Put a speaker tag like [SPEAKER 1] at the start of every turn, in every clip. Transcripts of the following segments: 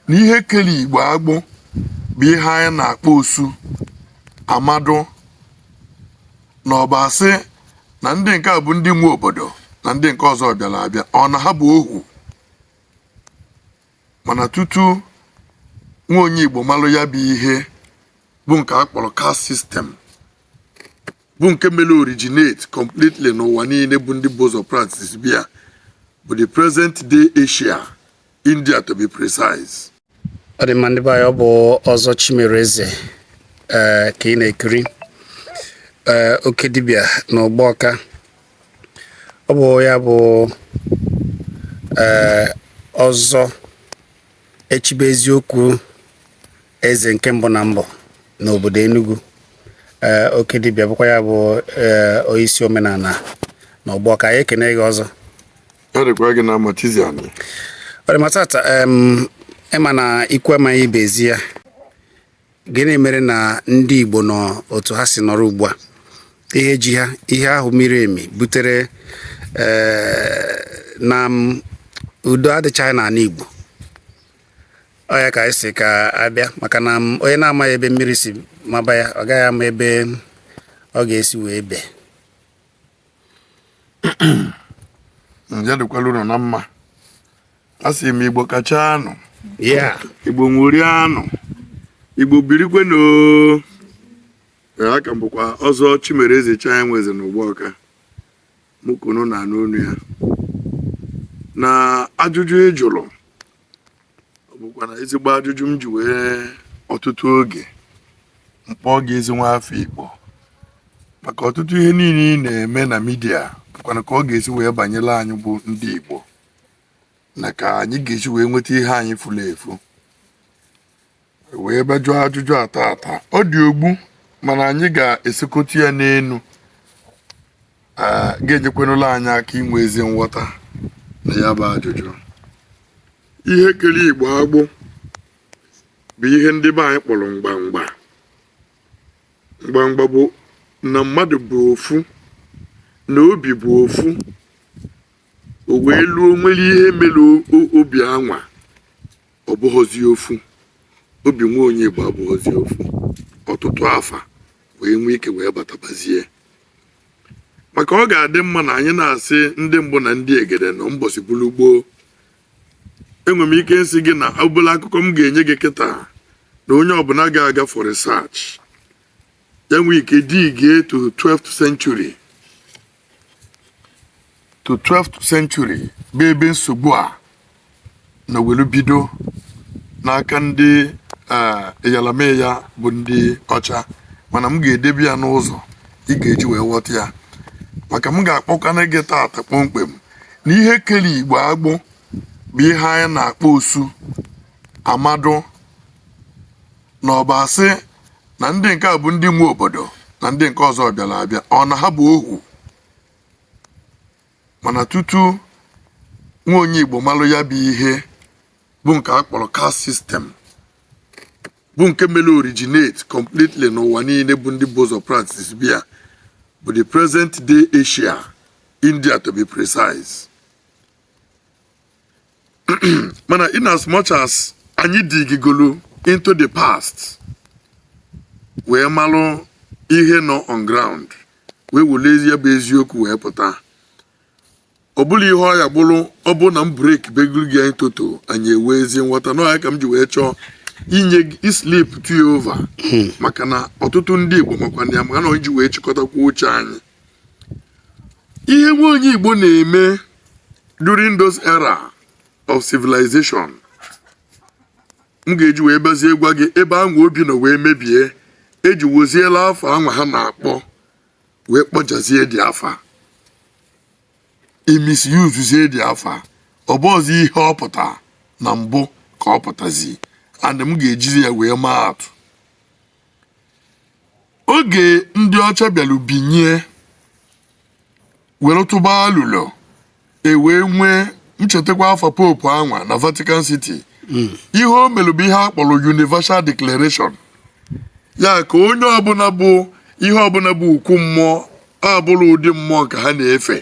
[SPEAKER 1] na ihe kere igbo agbụ bụ ihe anyị na-akpọ osu amadụ na ọbịa sị na ndị nke a bụ ndị nwe obodo na ndị nke ọzọ bịara abịa ọ na ha bụ ohu mana tutu nwa onye igbo malụ ya bụ ihe bụ nke a kpọrọ caste system bụ nke mere originate completely n'ụwa niile bụ ndị bu ụzọ practicebe ya bụ the present day Asia India to be precise. ọ dị
[SPEAKER 2] mma ndị be anyị ọ bụ ọzọ Chimereze ee ka ị na-ekiri ee oke dibịa na Ugbawka ọ bụ ya bụ ee ọzọ echibe eziokwu eze nke mbụ na mbụ n'obodo Enugu ee oke dibịa bụkwa ya bụ ee onyeisi omenala na Ugbawka anyị ekene gị ọzọ
[SPEAKER 1] ọ dị mma
[SPEAKER 2] tata ị ma na ikwu amaghị ibe ezi ya gịnị mere na ndị Igbo nọ otu ha si nọrọ ugbu a ihe ji ha ihe ahụ miri emi butere eh, na udo adịchaghị n'ala Igbo ọ ya ka anyị sị ka a bịa maka na onye na-amaghị ebe mmiri si maba ya ọ gaghị ama ebe ọ ga-esi wee bee
[SPEAKER 1] ya dịkwala unu na mma asị m igbo kachaa nụ igbo ṅụrịa nụ igbo birikwe nụ a ka m bụkwa ọzọ Chimereze chi ya nwe eze na Ugbawka mụ ka unu na-anụ onu ya na ajụjụ ị jụrụ ọ bụkwa na ezigbo ajụjụ m ji wee ọtụtụ oge m kpọọ gị ezi nwa afọ Igbo maka ọtụtụ ihe niile ị na-eme na media bụkwana ka ọ ga-esi wee banyere anyị bụ ndị Igbo na ka anyị ga-esi wee nweta ihe anyị furu efu wee bịa jụọ ajụjụ a tata ọ dị ogbu mana anyị ga-esekọta ya n'elu ga-enyekwanụla anyị aka inwe ezi nghọta na ya bụ ajụjụ ihe kere igbo agbụ bụ ihe ndị be anyị kpọrọ mgbamgba mgbamgba bụ na mmadụ bụ ofu na obi bụ ofu o wee luo o nwere ihe mere obi anwa ọ bụghọzi ofu obi nwa onye Igbo abụghọzi ofu ọtụtụ afa wee nwee ike wee batabazie maka ọ ga-adị mma na anyị na-asị ndị mbụ na ndị egede na mbọsị bụrụ gboo enwere m ike nsị gị na obere akụkọ m ga-enye gị kịta na onye ọbụla ga-aga for research ya nwee ike dig to 12th century to 12th century bụ ebe nsogbu a nọ welu bido n'aka ndị eyalameya eh, bụ ndị ọcha mana m ga-edebe ya n'ụzọ ị ga-eji wee ghọta ya maka m ga-akpọkwana gị taata kpọmkwem na ihe kelu igbo agbụ bụ ihe anyị na-akpọ osu amadụ na ọbịa sị na ndị nke a bụ ndị nwe obodo na ndị nke ọzọ bịara abịa or na ha bụ ohu mana tutu nwa onye Igbo malụ ya bụ ihe bụ nke a kpọrọ caste system bụ nke mere originate completely n'ụwa niile bụ ndị bu ụzọ practice-be ya bụ the present day Asia India to be precise mana in as much as anyị digigolu into the past wee malụ ihe nọ on ground wee werezie ya bụ eziokwu wee pụta ọ bụla ihe ọya bụrụ ọ bụ na m breki begoro gị anyị toto anyị enwee ezi nghọta na ọ ya ka m ji wee chọọ inye gị islip tụ ya over maka na ọtụtụ ndị igbo makwa na ya maka na onye ji wee chịkọtakwa uche anyị ihe nwa onye Igbo na-eme during those era of civilization m ga-eji wee bịazie gwa gị ebe anwa obi nọ wee mebie eji weziela afa anwa ha na-akpọ wee kpọjọzie the afa e misuse-zie the afa ọ bụrọzi ihe ọ pụta na mbụ ka ọ pụtazi and m ga-ejizi ya wee maa atụ oge ndị ọcha bịara binye were tụba alụlọ e wee nwee m chetakwa afa pope anwa na vatican city ihe o mere bụ ihe a kpọrọ universal declaration ya ka onye ọbụla bụ ihe ọbụla bụ okwu mmụọ abụrọ ụdị mmụọ nke ha na-efe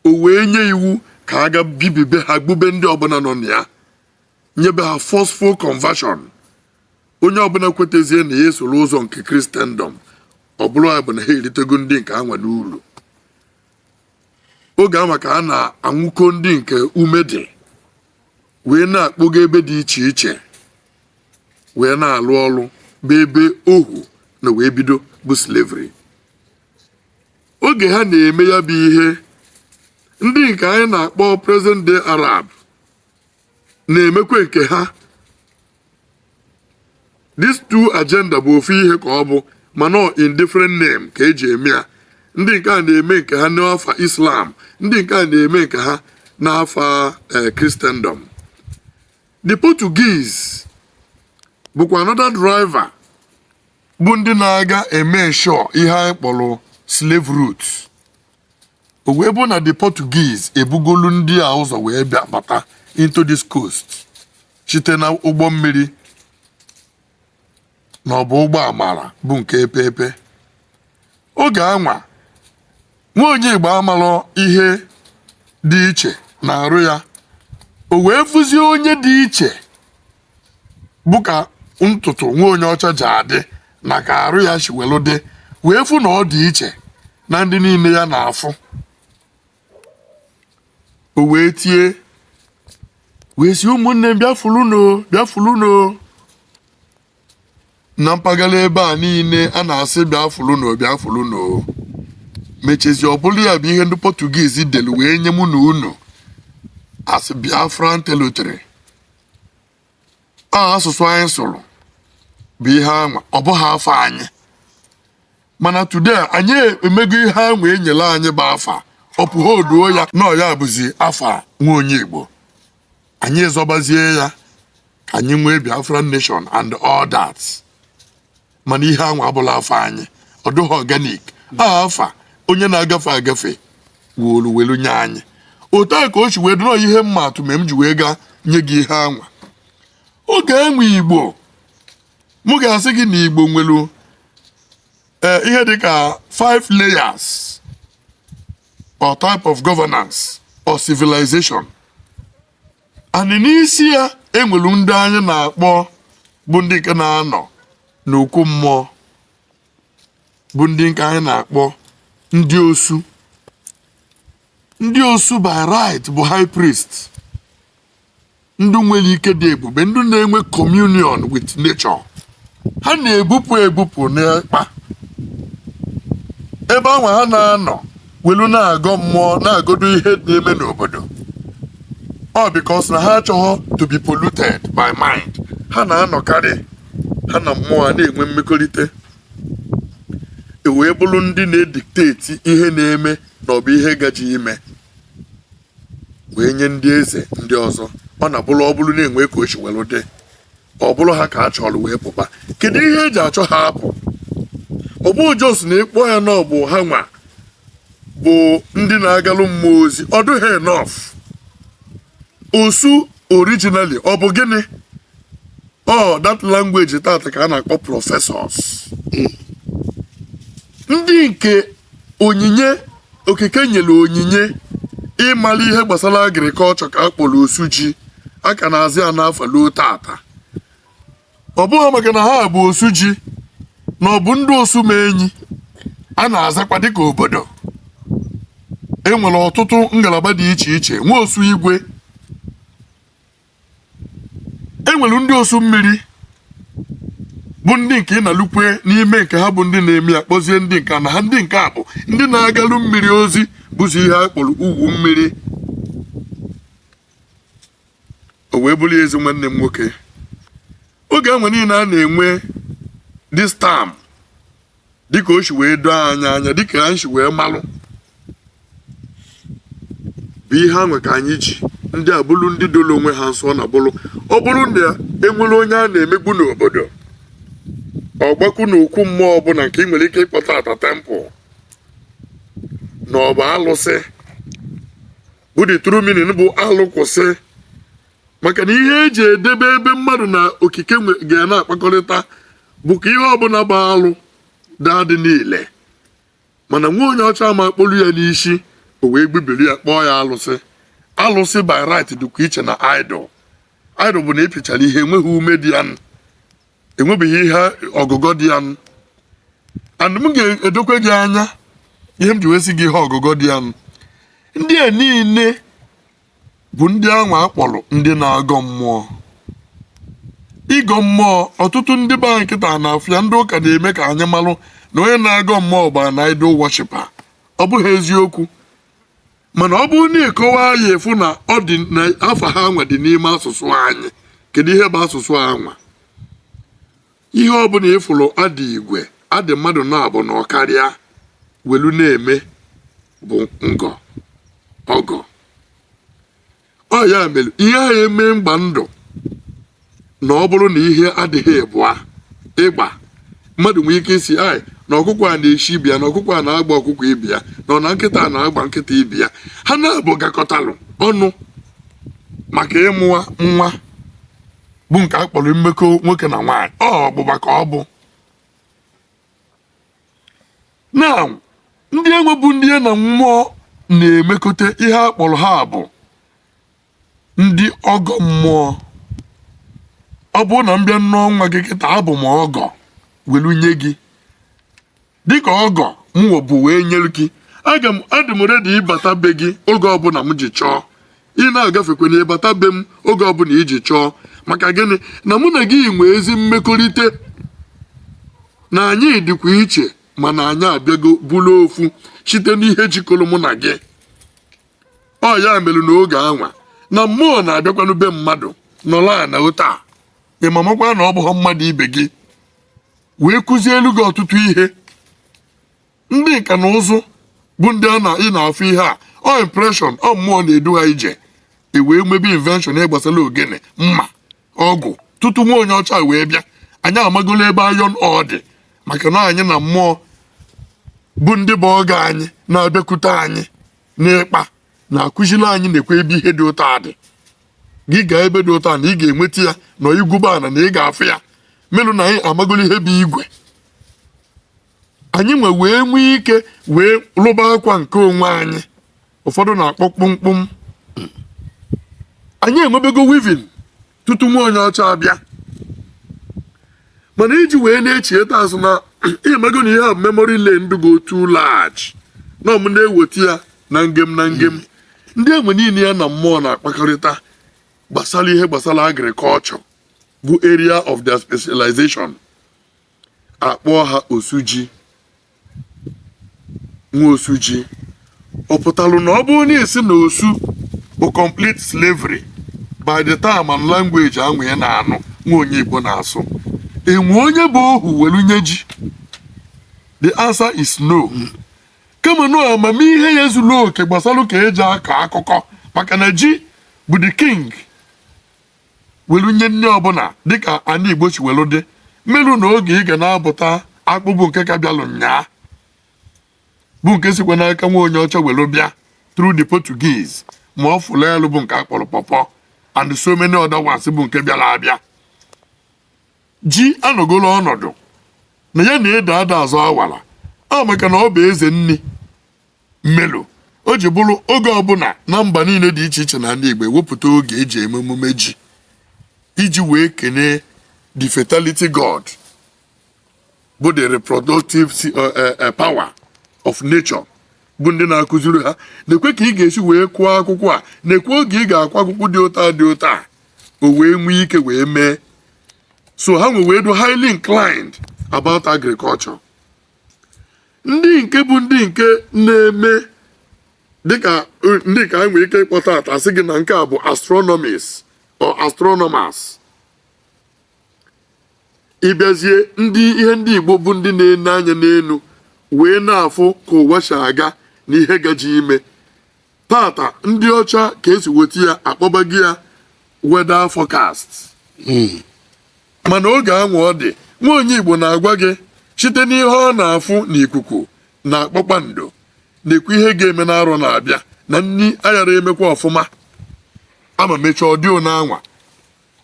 [SPEAKER 1] o wee nye iwu ka a ga bibibe ha gbube ndị ọbụla nọ na ya nyebe ha forceful conversion onye ọbụla kwetezie na ya esoro ụzọ nke christendom ọ bụrụ ya bụ na ha eritego ndị nke anwa n'uru oge anwa ka a na-anwụkọ ndị nke ume dị wee na-akpọga ebe dị iche iche wee na-alụ ọrụ bụ ebe ohu nọ wee bido bụ slavery oge ha na-eme ya bụ ihe ndị nke anyị na-akpọ present day arab na-emekwa nke ha these two agenda bụ ofu ihe ka ọ bụ mana ọ in different name ka eji eme ya ndị nke a na-eme nke ha n'afa islam ndị nke a na-eme nke ha n'afa eh, christendom the portuguese bụkwa another driver bụ ndị na-aga eme ensure ihe anyị kpọrọ slave route o wee bụ na the Portuguese ebugolu ndị a ụzọ wee bịa bata into this coast site na ụgbọ mmiri na ọ bụ ụgbọ amara bụ nke epeepe oge anwa nwa onye Igbo amalụ ihe dị iche na arụ ya o wee fụzie onye dị iche bụ ka ntutu nwa onye ọcha ji adị na ka arụ ya si welu dị wee fụ na ọ dị iche na ndị niile ya na-afụ o wee tie wee si ụmụnne m bịafụlụnụ bịafụlụnụ na mpaghara ebe a niile a na-asị bịafụlụnụ bịafụlụnụ mechezi ọ bụrụ ya bụ ihe ndị Portuguese delu wee nye mụ na unu asị Biafran territory a asụsụ anyị sụrụ bụ ihe anwa ọ bụghị afa anyị mana today anyị emego ihe anwa enyere anyị bụ afa ọ pụghị oduo ya na ọ ya bụzi afa nwa onye Igbo anyị zọbazie ya ka anyị nwee Biafran nation and all that mana ihe anwa abụla afa anyị ọ dịghị organic afa onye na-agafe agafe wolu welu nye anyị otu a ka o si wee dịrọ ihe mma atụ ma m ji wee gaa nye gị ihe anwa oge enwe igbo mụ ga-asị gị na igbo nwelu ee ihe dịka five layers or type of governance or civilization and n'isi ya enwere ndị anyị na-akpọ bụ ndị nke na-anọ n'okwu mmụọ bụ ndị nke anyị na-akpọ ndị osu ndị osu by right bụ high priest ndị nwere ike dị ebube ndị na-enwe communion with nature ha na-ebupụ ebupụ n'ịkpa ebe ahụ ha na-anọ welu na-agọ mmụọ na-agodo ihe na-eme n'obodo ọ because na ha achọghọ to be polluted by mind ha na-anọkarị ha na mmụọ a na-enwe mmekọrịta e wee bụrụ ndị na-edikteti ihe na-eme na ọ bụ ihe gaje ime wee nye ndị eze ndị ọzọ ọ na-abụrụ ọ bụrụ na e nwee ka o si welu dị ọ bụrụ ha ka a chọrọ wee pụba kedu ihe eji achọ ha apụ ọ bụ just na ịkpọ ya na ọ bụ ha nwa bụ ndị na-agalụ mmụọ ozi ọ dụghị enough osu originally ọ bụ gịnị ọ that language tata ka a na-akpọ professors ndị nke onyinye okike nyere onyinye ịmara ihe gbasara agriculture ka a kpọrọ osu ji a ka na-azị ya n'afa luo tata ọ bụghị maka na ha bụ osu ji na ọ bụ ndị osumenyi a na-azakwa dịka obodo e nwere ọtụtụ ngalaba dị iche iche nwe osu igwe e nwere ndị osu mmiri bụ ndị nke ị na-alụkwe n'ime nke ha bụ ndị na-eme ya kpọzie ndị nke na ha ndị nke a bụ ndị na-agalụ mmiri ozi bụzi ihe a kpọrọ owu mmiri o wee bụrụ ezi nwanne m nwoke oge anwa niile a na-enwe this term dịka o si wee doo anyị anya dịka anyị si wee malụ bụ ihe anwa ka anyị ji ndị a bụrụ ndị doro onwe ha nsọ na bụrụ ọ bụrụ na enwere onye a na-emegbu n'obodo ọ gbakwu n'okwu mmụọ ọbụla nke ị nwere ike ịkpọ taata temple na ọ bụ alụsị bụ the true meaning bụ alụ kwụsị maka na ihe eji edebe ebe mmadụ na okike ga na-akpakọrịta bụ ka ihe ọbụla bụ alụ daa dị niile mana nwa onye ọcha ama akpọlu ya n'isi o wee gbubiri ya kpọọ ya alụsị alụsị by right dịkwa iche na idol idol bụ na ị pịchara ihe enweghị ume dị ya enwebeghị ihe ọgụgọ dị ya and m ga-edokwe gị anya ihe m ji wee sị gị ihe ọgụgọ dị ya ndị a niile bụ ndị anwa a kpọrọ ndị na-agọ mmụọ ịgọ mmụọ ọtụtụ ndị be anyị kịta na-afụ ya ndị ụka na-eme ka anyị malụ na onye na-agọ mmụọ bụ na idol worshiper ọ bụghị eziokwu mana ọ bụrụ na ị kọwaa ya ị fụ na ọ dị na afa ha anwa dị n'ime asụsụ anyị kedu ihe bụ asụsụ anwa ihe ọbụla ị fụrụ a dị igwe a dị mmadụ naabọ na ọ karịa welu na-eme bụ ngọ ọgọ ọ ya mere ihe a eme mgba ndụ na ọ bụrụ na ihe adịghị ịbụa ịgba mmadụ nwee ike ịsị anyị na ọkụkọ a na-eshi ibe ya na ọkụkọ a na-agba ọkụkọ ibe ya na ọ na nkịta a na-agba nkịta ibe ya ha naabọ gakọtalụ ọnụ maka ịmụwa nwa bụ nke a kpọrọ mmekọ nwoke na nwaanyị ọ ọgbụgba ka ọ bụ na ndị anwa bụ ndị ya na mmụọ na-emekọta ihe a kpọrọ ha bụ ndị ọgọ mmụọ ọ bụrụ na m bịa nụọ nwa gị kịta abụ m ọgọ welu nye gị dịka ọgọ mụ ọ bụ wee nyere gị aka adị m ready ịbata be gị oge ọbụla m ji chọọ ị na-agafekwa na ịbata be m oge ọbụla i ji chọọ maka gịnị na mụ na gị nwee ezi mmekọrịta na anyị dịkwa iche mana anyị abịago bụrụ ofu site n'ihe jikọrọ mụ na gị ọ ya mere n'oge anwa na mmụọ na-abịakwanụ be mmadụ nọrọ ana otua ị mamakwa na ọ bụghị mmadụ ibe gị wee kụzielu gị ọtụtụ ihe ndị nka na ụzụ bụ ndị ị na-afụ ihe a ọ impression ọ mmụọ na-edu ha ije e wee mebe invention ihe gbasara ogene mma ọgụ tutu nwa onye ọcha wee bịa anyị amagolo ebe iron ore dị maka na anyị na mmụọ bụ ndị bụ ọgọ anyị na-abịakwute anyị n'ịkpa na-akụziri anyị nekwe ebe ihe dị otua dị gị gaa ebe dị otua na ị ga-enweta ya na i gwube ana na ị ga-afụ ya melu na anyị amagolo ihe bụ igwe anyị wee nwee ike wee lụba akwa nke onwe anyị ụfọdụ na-akpọ kpụmkpụm anyị enwebego weaving tutu nwa onye ọcha abịa mana iji wee na-echieta azụ na ị mago na ihe a memory lane go too large na ọ mụ na-eweta ya na ngem na ngem ndị e nwe niile ya na mmụọ na-akpakọrịta gbasara ihe gbasara agriculture bụ area of their specialization a kpọọ ha osuji nwa osuji ọ pụtalụ na ọ bụrụ na a sị na osu bụ complete slavery by the term and language anwa ị na-anụ nwa onye Igbo na-asụ e nwe onye bụ ohu welu nye ji the answer is no kama na amamihe ya zuru oke gbasara ka e ji akọ akụkụ maka na ji bụ the king welu nye nni ọbụla dịka ana Igbo si welu dị melu na oge ị ga na-abụta akpụ bụ nke ka bịalụ nyaa bụ nke sikwa n'aka nwa onye ọcha welu bịa through the Portuguese ma ọfụlụ elu bụ nke a kpọrọ pọpọ and so many other ones bụ nke bịara abịa ji anọgolo ọnọdụ na ya na ede ada azọ awara ọ maka na ọ bụ eze nni melu o ji bụrụ oge ọbụla na mba niile dị iche iche n'ana Igbo e wepụta oge e ji eme emume ji iji wee kenee the fertility god bụ the reproductive uh, uh, uh, power of nature bụ ndị na-akụziri ha nekwe ka ị ga-esi wee kụọ akwụkwọ a nekwe oge ị ga-akụ akwụkwọ dị otua dị otua o wee nwee ike wee mee so ha wee dụ highly inclined about agriculture ndị nke bụ ndị nke na-eme dịka eh, ndị ka anyị nwere ike ịkpọ taata asị gị na nke a bụ astronomies or astronomers ị bịazie ihe ndị igbo bụ ndị na-ene anya n'elu wee na-afụ ka ụwa si aga na ihe gaje ime taata ndị ọcha ka esi ghọta ya akpọba gị ya weather forecast hmm. mana oge anwa ọ dị nwa onye Igbo na-agwa gị site n'ihe ọ na-afụ n'ikuku na kpakpando na-ekwu ihe ga-eme n'arọ na-abịa na nri aghara emekwa ọfụma ama mechaa ọ dị anwa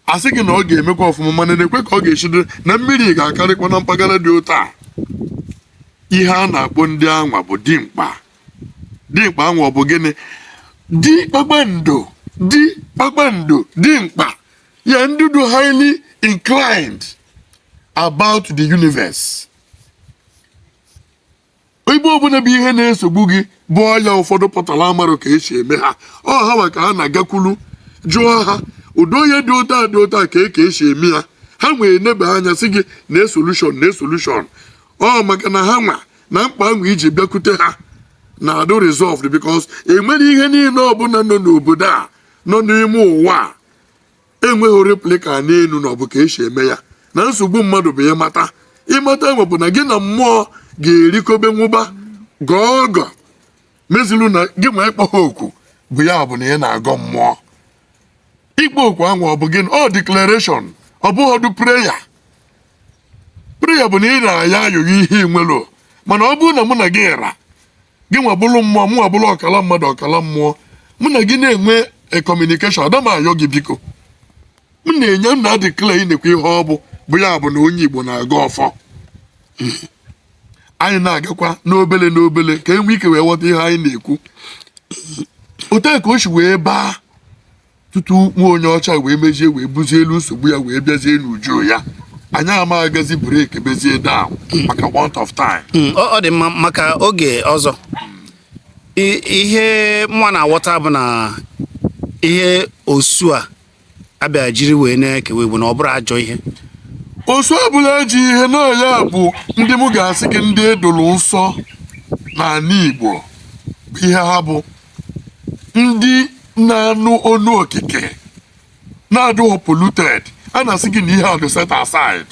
[SPEAKER 1] asị gị na ọ ga-emekwa ọfụma mana nekwa ka ọ ga-esi dụ na mmiri ga-akarịkwa na mpaghara dị otu a ihe a na-akpọ ndị anwa bụ dimkpa dimkpa anwa bụ gịnị di kpakpando di kpakpando dimkpa ya ndị dị highly inclined about the universe ihe ọbụla bụ ihe na-esogbu gị bụ ọya ụfọdụ pụtara amarọ ka esi eme ha ọ ha nwa ka a na-agakwuru jụọ ha ụdị ọya dị otu a dị otu a kee ka esi eme ya ha wee neba anya sị gị nee solution nee solution ọ maka na ha nwa na mkpa ahụ iji bịakwute ha na-adụ resolved because enwerọ ihe niile ọbụla nọ n'obodo a nọ n'ime ụwa a enweghị replica n'elu na ọ bụ ka esi eme ya na nsogbu mmadụ bụ ịmata ịmata anwa bụ na gị na mmụọ ga-erikobe nwụba gọọ ọgọ mezilu na gị nwa ịkpọ ha oku bụ ya bụ na ị na-agọ mmụọ ịkpọ oku ahụ ọ bụ gịnị ọ declaration ọ bụghọdụ prayer prayer bụ na ị na-ayọ ayịyọ ihe ị nwerọ mana ọ bụrụ na mụ na gị ra gị nwa bụrụ mmụọ mụ nwa bụrụ ọkala mmadụ ọkala mmụọ mụ na gị na-enwe communication ada m ayọ gị biko m na-enye m na-declare na-ekwu ihe ọ bụ bụ ya bụ na onye Igbo na-agọ ọfọ anyị na-agakwa n'obele n'obele ka enwe ike wee ghọta ihe anyị na-ekwu otu ka o si wee baa tutu nwa onye ọcha wee mezie wee buzielu nsogbu ya wee bịazie n'uju ya anyị ama agazi break bezie down maka want of time hmm, ọ dị mma maka
[SPEAKER 2] oge ọzọ ihe mụ nwa na-aghọta bụ na ihe osu a abịa jiri wee na-ekewa igbo na ọ bụrọ ajọ ihe
[SPEAKER 1] osu abụrọ ajọ ihe na ya bụ ndị m ga-asị gị ndị edoro nsọ n'ala igbo bụ ihe ha bụ ndị na-anụ onu okike na-adịghị polluted a na-asị gị na ihe a dị set aside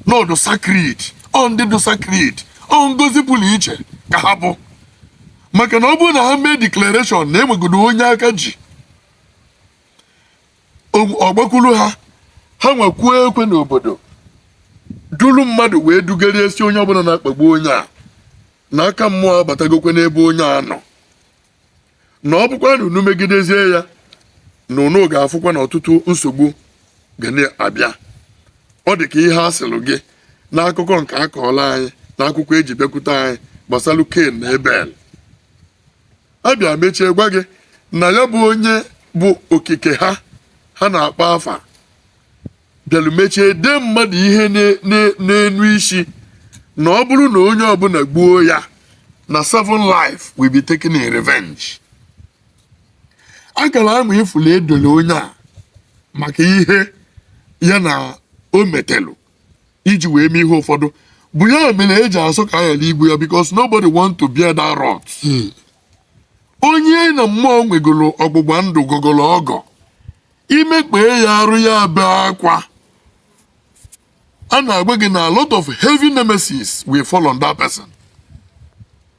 [SPEAKER 1] na ọ dụ sacred ọ ndị dị sacred ọ ngozi pụrụ iche ka ha bụ maka na ọ bụrụ na ha mee declaration na enwegodo onye aka ji ọ gbakwuru ha ha nwa kụọ ekwe n'obodo duru mmadụ wee dugharịa sị onye ọbụna na-akpagbu onye a na aka mmụọ abatagokwe n'ebe onye a nọ na ọ bụkwa na unu megidezie ya na unu ga-afụkwa na ọtụtụ nsogbu ga na-abịa ọ dị ka ihe a sịlụ gị n'akụkọ nke a kọọlụ anyị na akwụkwọ eji bịakwute anyị gbasalụ Cain na Abel a bịa mechie gwa gị na ya bụ onye bụ okike ha ha na-akpọ afa bịalụ mechie dee mmadụ ihe na- na- n'enu isi na ọ bụrụ na onye ọbụna gbuo ya na seven life will be taken in revenge akara anwa ị fụlụ e dolu onye a maka ihe ya na o metelu iji wee mee ihe ụfọdụ bụ ya mere eji asọ ka aghara igbu ya because nobody want to bear that wrath hmm. onye na mmụọ nwegolu ọgbụgba ndụ gọgolu ọgọ i mekpaa ya arụ ya bee akwa a na-agwa gị na a lot of heavy nemesis will fall on that person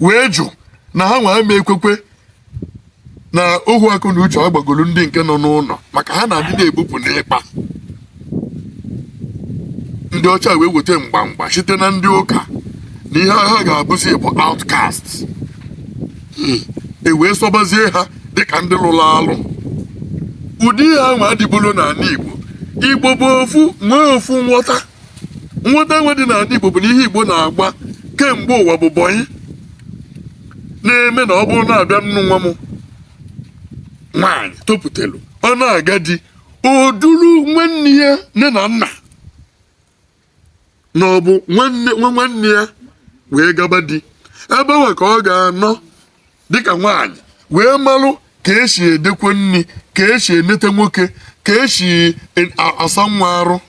[SPEAKER 1] wee jụ na ha nwa ama ekwekwe na ohu akọ na uche agbagolu ndị nke nọ n'ụnọ maka ha na ndị na-ebupụ n'ikpa ndị ọcha wee weta mgbamgba site na ndị ụka na ihe ha ga-abụzi bụ outcast hmm. e wee sọbazie ha dịka ndị lụlụ alụ ụdị ihe anwa adịbụrọ n'ana Igbo Igbo bụ ofu nwee ofu nghọta nghọta anwa dị n'ana Igbo bụ na ihe Igbo na-agba kemgbe ụwa bụ bọyị na-eme na ọ bụrụ na-abịa nnu nwa m nwaanyị topụtelu ọ na-aga di o duru nwanne ya nne na nna na ọ bụ nwa nwanne ya wee gaba di ebe anwa ka ọ ga-anọ dịka nwaanyị wee malụ ka esi edekwe nni ka esi enete nwoke ka esi e- a- asa nwa arụ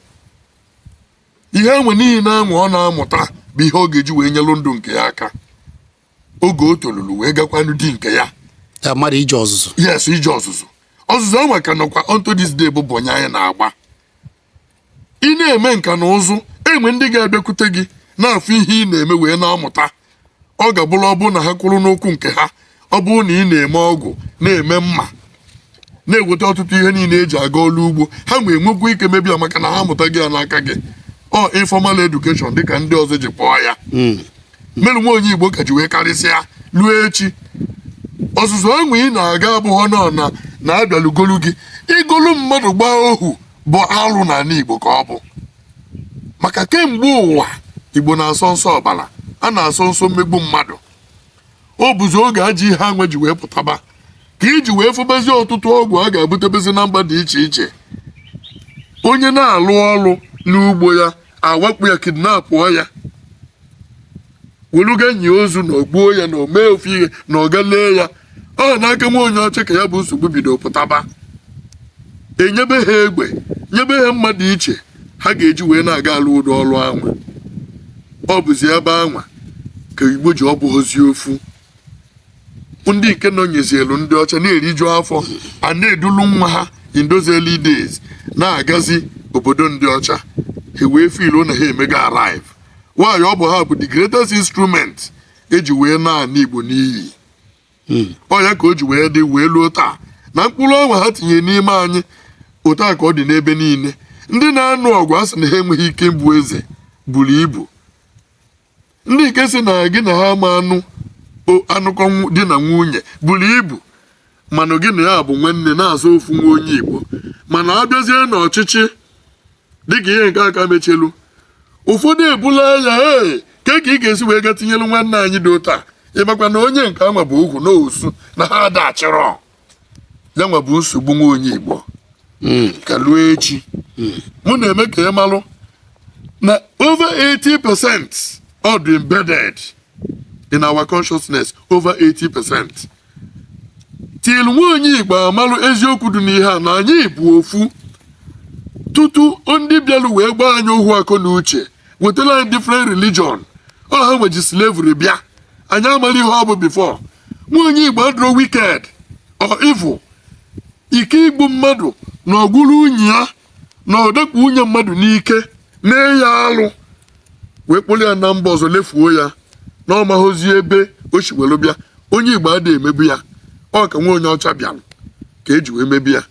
[SPEAKER 1] ihe anwa niine anwa ọ na-amụta bụ ihe ọ ga-eji wee nyelụ ndụ nke ya aka oge o tolulu wee gakwanụ di nke ya ya mmadụ ije
[SPEAKER 2] ọzụzụ yes ije ọzụzụ
[SPEAKER 1] ọzụzụ anwa ka nọkwa unto this day bụ bọyị anyị na-agba ị na-eme nka na ụzụ e nwee ndị ga-abịakwute gị na-afụ ihe ị na-eme wee na-amụta ọ ga-abụrụ ọ bụrụ na ha kwụrụ n'ụkwụ nke ha ọ bụrụ na ị na-eme ọgụ na-eme mma na-eweta ọtụtụ ihe niile eji aga ọrụ ugbo ha nwa nwekwa ike mebe ya maka na ha amụtago ya n'aka gị ọ informal education dịka ndị ọzọ ji kpọọ ya hmm. melụ nwa onye igbo ka ji wee karịsịa ruo echi ọzụzụ anwa ị na-aga abụghọ nọ na a bịalụ golu gị igolu mmadụ gbaa ohu bụ alụ n'ala Igbo ka ọ bụ maka kemgbe ụwa Igbo na-asọ nsọ ọbara a na-asọ nsọ mmegbu mmadụ ọ bụzi oge ajọ ihe anwa ji wee pụtaba ka i ji wee fụbazi ọtụtụ ọgụ agha ebutebezi na mba dị iche iche onye na-alụ ọrụ n'ugbo ya awakpo ya kidnapụọ ya weluga enyi ozu na o gbuo ya na o mee ofu ihe na ọ ga lee ya ọ n'aka nwa onye ọcha ka ya bụ nsogbu bido pụtaba enyebe ha egbe nyebe ha mma dị iche ha ga-eji wee na-aga alụ ụdị ọrụ anwa ọ bụzi ebe anwa ka igbo ji ọ bụghịzi ofu ndị nke nọnyezielu ndị ọcha na-eriju afọ a na-edulu nwa ha in those early days na-agazi obodo ndị ọcha ha wee feel na ha emego arrive while ọ bụ ha bụ the greatest instrument e ji wee na-ana igbo n'iyi ọ ya ka o ji wee dị wee luo taa na mkpụrụ anwa ha tinyere n'ime anyị otu a ka ọ dị n'ebe niile ndị na-anụ ọgụ a sị na ha enweghị ike ịbụ eze buru ibu ndị nke sị na gị na ha ma anụ anụkọ di na nwunye buru ibu mana gị na ya bụ nwanne na-aza ofu nwa onye Igbo mana abịazie n'ọchịchị dịka ihe nke a ka mechelu ụfọdụ ebula ya ee ke ka ị ga-esi wee ga tinyelu nwanne anyị dị otu a ị makwa na onye nke anwa bụ ohu na osu na ha adachịrọ ya nwa bụ nsogbu nwa onye igbo ka luo echi mụ na-eme ka ị malụ na over 80 percent ọ dị embedded in our consciousness over 80 percent till nwa onye igbo amalụ eziokwu dị n'ihe a na anyị bụ ofu tutu ndị bịalụ wee gbaa anyị ohu akọ na uche wetara anyị different religion ọ ha nwa ji slavery bịa anyị amarọ ihe ọ bụ before nwa onye igbo adịrọ wicked or evil ike igbu mmadụ na ọgwụrụ unyi ya na ọ dakpo nwunye mmadụ n'ike mee ya alụ wee kpọrọ ya na mba ọzọ lefuo ya na ọ maghịzi ebe o si were bịa onye igbo adịghị emebu ya ọ ka nwa onye ọcha bịara ka e ji wee mebe ya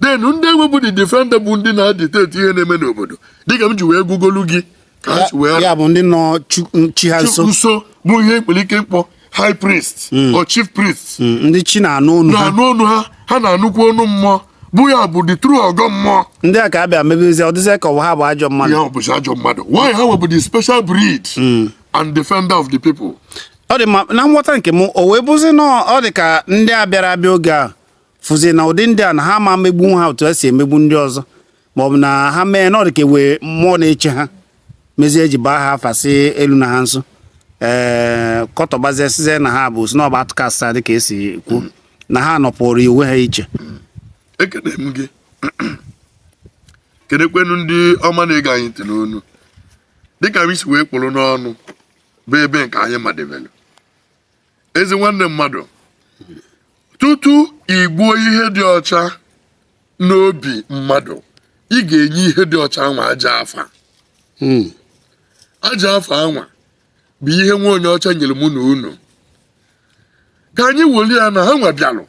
[SPEAKER 1] then ndị anwa bụ the defender bụ ndị na-dictate ihe na-eme n'obodo dịka m ji wee gụgolu gị ka ha si wee ya bụ ndị nọ
[SPEAKER 2] chu- m- chi ha nso nso bụ ihe
[SPEAKER 1] e nwere ike ịkpọ high priest or chief priest Mm, ndị chi na-anụ
[SPEAKER 2] ọnụ ha na-anụ ọnụ ha
[SPEAKER 1] ha na-anụkwa ọnụ mmụọ bụ ya bụ the true ọgọ mmụọ ndị a ka a bịa
[SPEAKER 2] mebezie ọ dịzịa ka ọwa ha bụ ajọ mmadụ ọ bụzi ajọ
[SPEAKER 1] mmadụ while ha nwa bụ the special breed and defender of the people ọ dị mma na
[SPEAKER 2] nghọta nke m o wee bụzi na ọ dị ka ndị a bịara abịa oge a fụzi na ụdị ndị a na ha ma megbu ha otu esi emegbu ndị ọzọ maọbụ na ha mee na ọ dịka e nwee mmụọ na-eche ha mezie eji baa ha afa sị eluna ha nso ee eh, kọtọbazie sizie na ha bụ osu na ha bụ outcast dị ka esi kwuo na ha nọpụrụ onwe ha iche
[SPEAKER 1] ekene m gị kenekwanụ ndị ọma na-ege anyị ntị n'ụnọ dịka m si wee kpụrụ n'ọnụ bụ ebe nke anyị madebelu ezi nwanne mmadụ tutu igbuo ihe dị ọcha n'obi mmadụ ị ga-enye ihe dị ọcha anwa ajọ afa hmm. ajọ afa anwa bụ ihe nwa onye ọcha nyere mụ na unu ka anyị weli ya na ha nwa bịalụ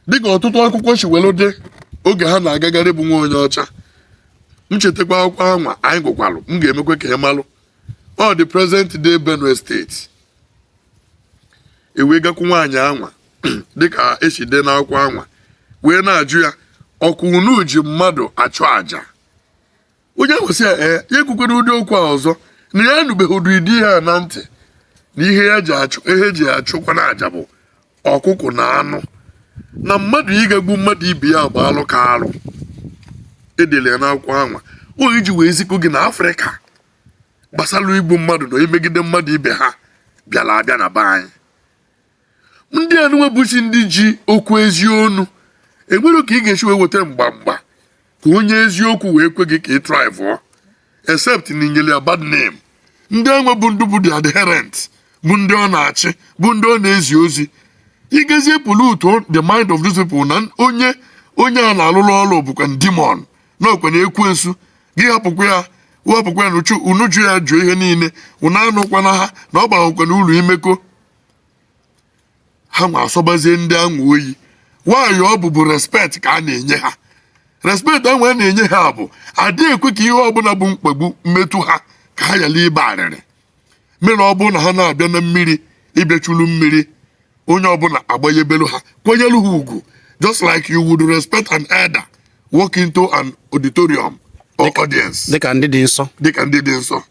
[SPEAKER 1] dịka ọtụtụ akwụkwọ si welu dee oge ha na-agagharị bụ nwa onye ọcha m chetakwa akwụkwọ anwa anyị gụkwalụ m ga-emekwa ka ị malụ ọ dị present day Benue State ewee gakwu nwaanyị anwa dịka esi dee n'akwụkwọ anwa wee na-ajụ ya ọkwa unu ji mmadụ achụ aja onye ahụ sị ya ee ya ekwukwala ụdị okwu a ọzọ na ya anụbeghị ụdịdị ihe a na ntị na ihe ya ji achụ ihe eji achụkwanụ aja bụ ọkụkụ na anụ na mmadụ ịga egbu mmadụ ibe ya bụ alụ ka alụ edele ya n'akwụkwọ anwa ọ bụ iji wee zikwuo gị na afrịka gbasara igbu mmadụ na imegide mmadụ ibe ha bịara abịa na be anyị ndị anụnwa bụsị ndị ji okwu ezi onu enwerọ ka ị ga-esi wee weta mgba mgba ka onye eziokwu wee kwe gị ka ị thrive except na inyere ya bad name ndị anwa bụ ndị bụ the adherent bụ ndị ọ na-achị bụ ndị ọ na-ezi ozi ị gazie pollute the mind of these people na onye a na-alụrụ ọrụ bụkwa demon na ọkwanụ ekwensu gị hapụkwa ya wepụkwa ya n'uche unu jụ ya jụọ ihe niile unu anụkwana ha na ọ baghọkwanụ uru imekọ ha nwa asọbazie ndị anwa oyi while ọ bụbu respect ka a na-enye ha respect anwa a na-enye ha bụ adịghị ekwe ka ihe ọbụla bụ mkpagbu mmetụ ha ka ha yala ibe arịrị mere ọ bụrụ na ha na-abịa na mmiri ịbịachulu mmiri onye ọbụla agbanyebelu ha kwanyelu ha ugwu just like you would respect an elder walk into an auditorium or audience dịka ndị dị nsọ
[SPEAKER 2] dịka ndị dị nsọ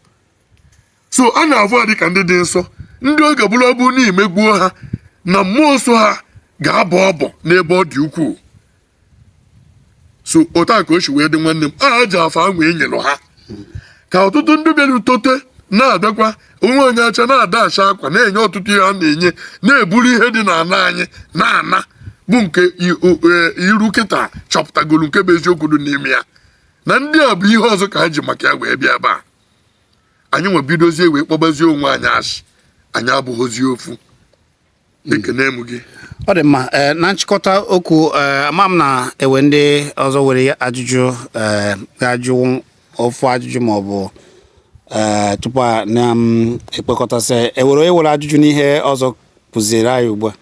[SPEAKER 1] so a na-avụ ha dịka ndị dị nsọ ndị ọ ga-abụrụ abụ na imegbuo ha na mmụọ so ha ga-abọ ọbọ n'ebe ọ dị ukwuu so otu a ka o si wee dị nwanne m ajọ afa ahụ enyelụ ha ka ọtụtụ ndị bịara tote na-abịakwa nwa onye ọcha na-ada acha akwa na-enye ọtụtụ ihe a na-enye na-eburu ihe dị n'ala anyị na-ana bụ nke eruo kịta achọpụtagoro nke bụ eziokwu dị n'ime ya na ndị a bụ ihe ọzọ ka ha ji maka ya wee bịa ebe a anyị ewee bidozie wee kpọbazie onwe anyị asị anyị abụghịzi ofu ekene m gị ọ dị mma ee
[SPEAKER 2] na nchịkọta okwu ee ama m na e we ndị ọzọ were ajụjụ ee ga-ajụ ofu ajụjụ ma ọ bụ ee tupu a na-ekpekọtasị ewere onye were ajụjụ n'ihe ọzọ kụziere anyị ugbu a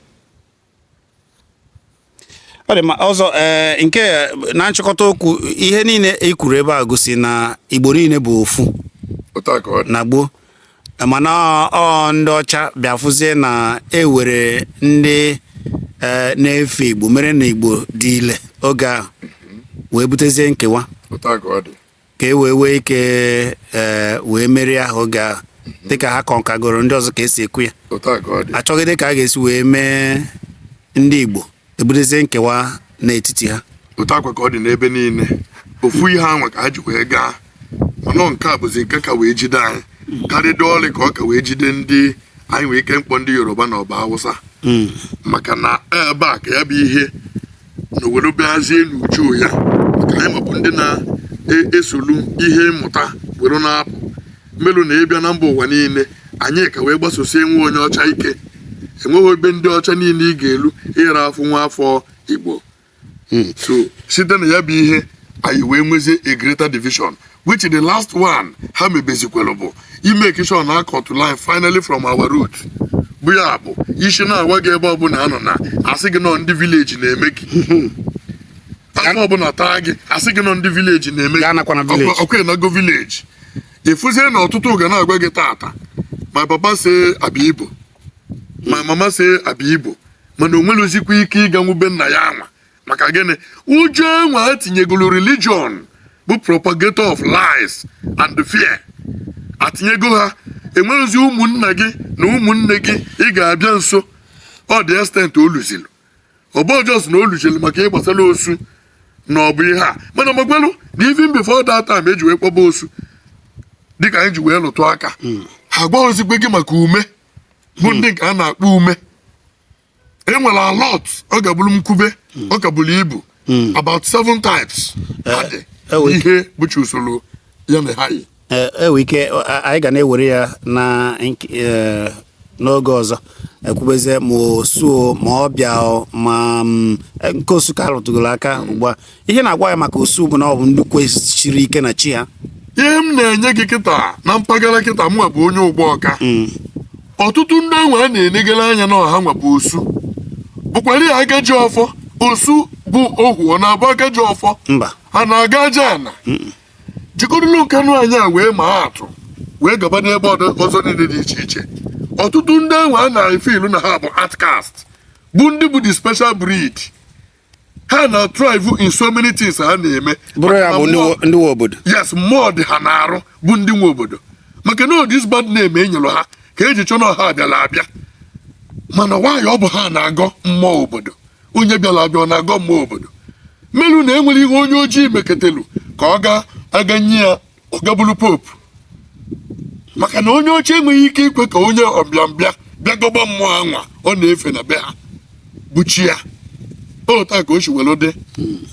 [SPEAKER 2] ọ dị mma ọzọ ee eh, nke eh, na nchịkọta okwu ihe niile e kwuru ebe a gosi na igbo niile bụ ofu na gboo mana ọ ndị ọcha bịa fụzie na ewere ndị eh, na-efe igbo mere na igbo dị ile oge ahụ wee butezie nkewa ka e wee wee ike ee wee merie ahụ oge ahụ dịka ha conquergoro ndị ọzọ ka esi ekwu ya otu a ka ọ dị achọgide ka a ga-esi wee mee ndị Igbo ebutezie nkewa n'etiti ha otu a kwa ka ọ dị n'ebe
[SPEAKER 1] niile ofu ihe anwa ka ha ji wee gaa mana ọ nke a bụzi nke ka wee jide anyị karịdị ọlị ka ọ ka wee jide ndị anyị nwee ike mkpọ ndị yoruba ma ọ bụ hausa maka na ebe a ka ya bụ ihe nọ were bịazie n'uju ya maka anyị nwa bụ ndị na-esolu ihe mmụta were na-apụ melụ na ị bịa na mba ụwa niile anyị ka wee gbasosie nwa onye ọcha ike enweghị ebe ndị ọcha niile ị ga-elu ị ra afụ nwa afọ igbo hmm. so site na ya bụ ihe anyị wee nwezie a greater division which the last one ha mebezikwere bụ ịmake sure na a cutụ line finally from our root bụ ya bụ isi na-awa gị ebe ọbụla a nọ na-asị gị na ọ ndị village na-eme gị afọ ọbụla taa gị a sị gị na ọ ndị village na-eme gị ọkwa ịnago village efuzie na ọtụtụ ga na-agwa gị tata my papa say I be ibo my mama say I be ibo mana o nwerozikwa ike ịganwu be nna ya anwa maka gịnị ụjọ anwa atinyegolu religion bụ propagator of lies and fear atinyego ha enweghịzi ụmụnna gị na ụmụnne gị ị ga-abịa nso ọ dị extent o luzilu ọ bụ just na o luzilu maka ihe gbasara osu na ọ bụ ihe a mana magwalụ na even before that time eji wee kpọba osu dịka anyị ji wee lụtụ aka ha gwaghịzikwe gị maka ume bụ ndị nke a na-akpọ ume enwere a lot ọ ga-abụrụ m kwube hmm. ọ ka buru ibu hmm. about seven types eh, adị eh, ihe bụchi usoro ya na ha yi enwe eh, ike
[SPEAKER 2] anyị ga na-ewere ya na n'oge ọzọ ekwubezie ma osu o ma ọbịa ma mm, nke osu ka a rụtụgoro aka ugbu a ihe na-agwa ya maka osu bụ na ọ bụ ndị kwusiri ike na chi ha ihe m
[SPEAKER 1] na-enye gị kịta na mpaghara kịta mụnwa bụ onye Ugbawka ọtụtụ ndị enwe a na-enegara anya na ọ hanwa bụ osu bụkwara ya ga-eji ọfọ osu bụ ohu ọ na-abụ a ga-eji ọfọ mba ha
[SPEAKER 2] na-agọ
[SPEAKER 1] aja ana jikọrụlụ nkanụ anyị a wee maa atụ wee gaba n'ebe ọdọ- ọzọ niile dị iche iche ọtụtụ ndị enwe a na-efe ilu na ha bụ outcast bụ ndị bụ the special breed ha na thrive in so many things ha na-eme bụrụ ya
[SPEAKER 2] bụ ndị nwe obodo yes mmụọ dị ha
[SPEAKER 1] na-arụ bụ ndị nwe obodo maka na this bad name e nyere ha ka eji chọ na ha bịala abịa mana why ọ bụ ha na-agọ mmụọ obodo onye bịala abịa ọ na-agọ mmụọ obodo melu na enwere ihe onye ojii meketelu ka ọ ga aga nye ya ọ ga-abụlụ pope maka na onye ọcha enweghị ike ikwe ka onye ọbịambịa bịa gọba mmụọ anwa ọ na-efe na be ha bụ chi ya otu a ka o si were dị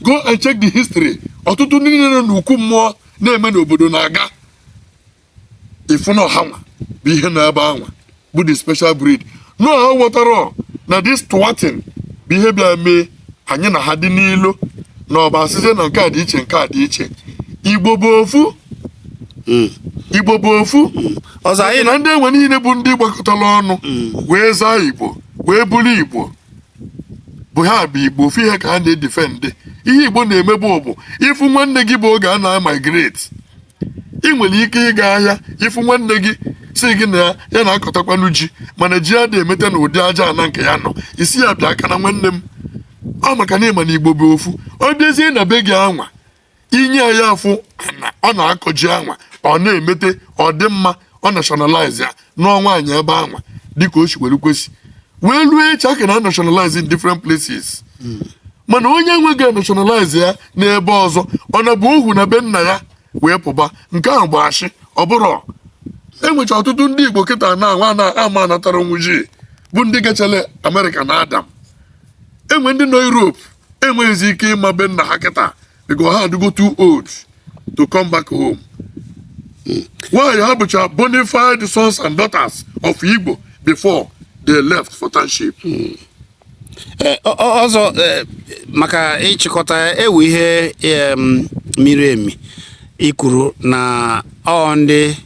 [SPEAKER 1] go and check the history ọtụtụ ndị niile nọ n'ukwu mmụọ na-eme n'obodo na-aga ịfụ na ọ hanwa bụ ihe na ebe anwa bụ the special breed na ha ghọtara na this thwarting bụ ihe bịa mee anyị na ha dị n'ilo na ọba asịzie na nke a dị iche nke a dị iche igbo bụ ofu hmm. igbo bụ ofu hmm. ọzọ anyị na
[SPEAKER 2] ndị enwe niile bụ
[SPEAKER 1] ndị gbakọtara ọnụ hmm. wee zaa igbo wee bụrụ igbo bụ ha bụ igbo ofu ihe ka ha na-defend ihe igbo na-emebu bụ ịfụ nwanne gị bụ oge a na-migrate ị nwere ike ịga ahịa ịfụ nwanne gị si gị na ya na-akọtakwanụ ji mana ji ya adị emeta na ụdị aja ana nke ya nọ ị sị ya bịakene nwanne m ọ maka na ị ma na igbo bụ ofu ọ bịazie na be gị anwa ị nye ya afụ ana ọ na-akọ ji anwa ọ na-emete ọ dị mma ọ nationalize ya nụọ nwaanyị ebe anwa dịka o si were kwesị wee ruo echi a ka na-nationalize in different places mana onye nweghị nationalize ya n'ebe ọzọ ọ na-abụ ohu na be nna ya wee pụba nke ahụ bụ ashị ọ bụrụ e nwecha ọtụtụ ndị igbo kịta na nwa na ama natara nwuji bụ ndị gachara amerịka na adam enwe ndị nọ europe enweghịzi ike ịma be nna ha kịta because ha adịgo too old to come back home while ha bụcha bona fide sons and daughters of igbo before they left for township Eh, ọ- ọ-
[SPEAKER 2] ọzọ eh, maka ịchịkọta eh, ihe em, miri emi i kwuru na ọ ndị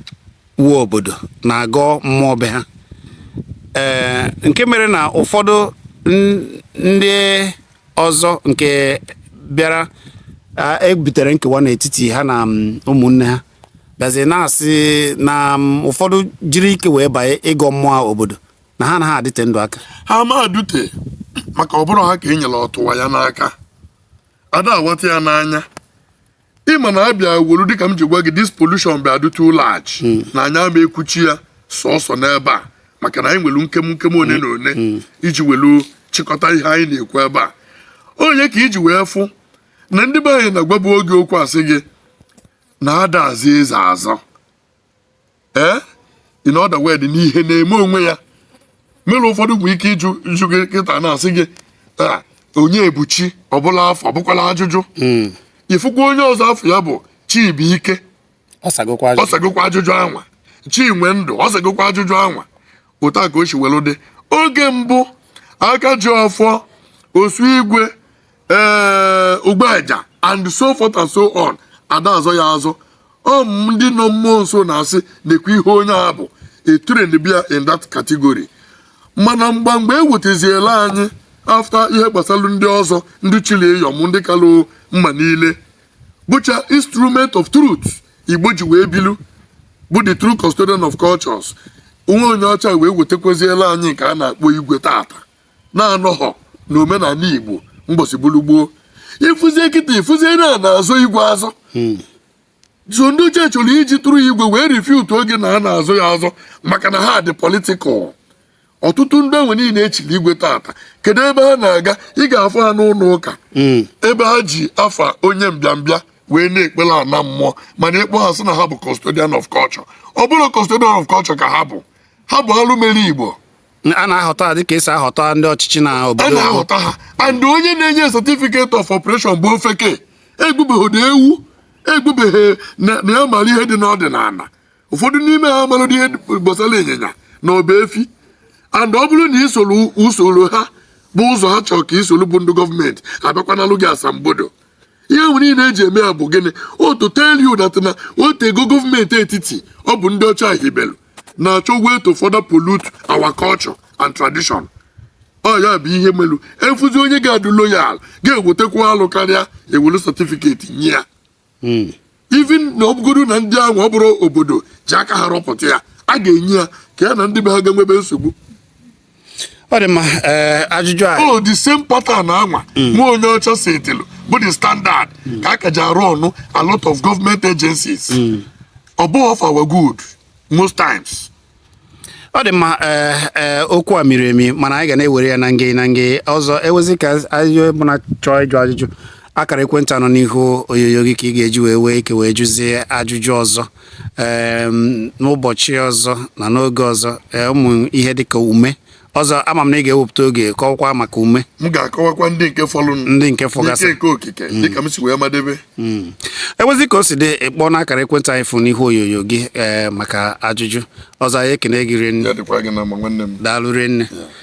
[SPEAKER 2] nwe obodo na-agọ mmụọ be ha Eh, nke mere na ụfọdụ n- ndị ọzọ nke bịara a- e butere nkewa n'etiti ha na mm, ụmụnne ha bịazi na-asị na mm, ụfọdụ jiri ike wee banye ịgọ mmụọ obodo na ha anaghị adịte ndụ aka ha ma
[SPEAKER 1] adụte maka ọ bụrọ ha ka e nyere ọtụwa ya n'aka ada awata ya n'anya ịma na abịa welu dịka m ji gwa gị this pollution bịa dị too large hmm. na anyị ama ekwuchi ya sọsọ n'ebe a maka na anyị nwelu nkem nkem one na one hmm. iji welu chịkọta ihe anyị na-ekwu ebe a ọ ya ka iji wee fụ na ndị be anyị na-agwabu gị okwu asị gị na ada azọ eze azọ ee eh? in other word na ihe na-eme onwe ya mere ụfọdụ nwere ike ịjụ ịjụ gị kịta na-asị gị ah, Onyebuchi ọ bụlụ afa ọ bụkwalụ ajụjụ hmm. ifụkwa onye ọzọ afa ya bụ Chibuike ọ sagokwa ajụjụ anwa Chinwendụ ọ sagokwa ajụjụ anwa otu a ka o si welu dị oge mbụ aka ji ọfọ osu igwe ee eh, ugbeja and so forth and so on ada azọ ya azọ ọ ndị nọ mmụọ nso na-asị na-ekwu ihe onye a bụ e trainbe ya in that category mana mgba mgbe e wetaziela anyị after ihe gbasara ndị ọzọ ndị chili Iyọm ndị kalụ mma niile bụcha instrument of truth Igbo ji wee bilu bụ the true custodian of cultures nwa onye ọcha wee wetakwaziela anyị nke a na-akpọ igwe tata na-anọghọ na omenala Igbo mbọsị bụrụ gboo ịfụzie kịta ịfụzie na na-azọ igwe azọ hmm. so ndị uche chọrọ iji tụrụ igwe wee refute oge na a na-azọ ya azọ maka na ha dị political ọtụtụ ndị anwa niile echiri igwe tata kedu ebe ha na-aga ị ga-afụ ha n'ụlọ ụka hmm. ebe ha ji afa onye mbịambịa wee na-ekpere ana mmụọ mana ịkpọ ha sị na ha bụ custodian of culture ọ bụrọ custodian of culture ka ha bụ ha bụ alụ mere Igbo a na-ahọta
[SPEAKER 2] ha dịka esi ahọta ndị ọchịchị na a obodo na-ahọta
[SPEAKER 1] ha and onye na-enye certificate of operation bụ ofeke egbubeghị ewu egbubeghị na na ya mara ihe dị n'ọdịnala ụfọdụ n'ime ha amarọ ihe gbasara ịnyịnya na ọba efi and ọ bụrụ na isorọ usoro ha bụ ụzọ ha chọrọ ka isoro bụ ndị gọọmenti abịakwanalụ gị asambodo ihe anwa niile eji eme ya bụ gịnị ọ to tell you that na o tego gọọmenti etiti ọ bụ ndị ọcha hibelu na-achọ way to further pollute our culture and tradition ọ ya bụ ihe melu afụzi onye ga-adụ loyal ga-ewetakwu alụ karịa ewelu certificate nye ya Hmm. even na ọ bụgodu na ndị ahụ ọ bụrọ obodo ji aka ha rọpụta ya a ga-enye ya ka ya na ndị be ha ga-enwebe nsogbu
[SPEAKER 2] ọ dị mma ee ajụjụ a o the same
[SPEAKER 1] pattern anwa nwa onye ọcha setịlụ bụ the standard ka a ka ji arụ ọnụ a lot of government agencies ọ bụghị for our good most times ọ
[SPEAKER 2] dị mma ee ee okwu a miri emi mana anyị ga na-ewere ya na nge na nge ọzọ e nwezi ka ajụjụ bụ na ị chọọ ịjụ ajụjụ akara ekwentị a nọ n'ihu onyonyo gị ka ị ga-eji wee nwee ike wee jụzie ajụjụ ọzọ n'ụbọchị ọzọ na n'oge ọzọ ụmụ ihe dịka ume ọzọ ama m na ị ga-ewepụta oge kọwakwa maka ume m ga-akọwakwa ndị
[SPEAKER 1] nke fọlụnụ ndị nke fọgasị nke
[SPEAKER 2] okike mm. dịka
[SPEAKER 1] m si wee madebe mm. e
[SPEAKER 2] nwezi ka o si dị ị kpọọ n'akara ekwentị a ị fụ n'ihu onyonyo gị maka ajụjụ ọzọ anyị ekene gị rinne
[SPEAKER 1] daalụ rinne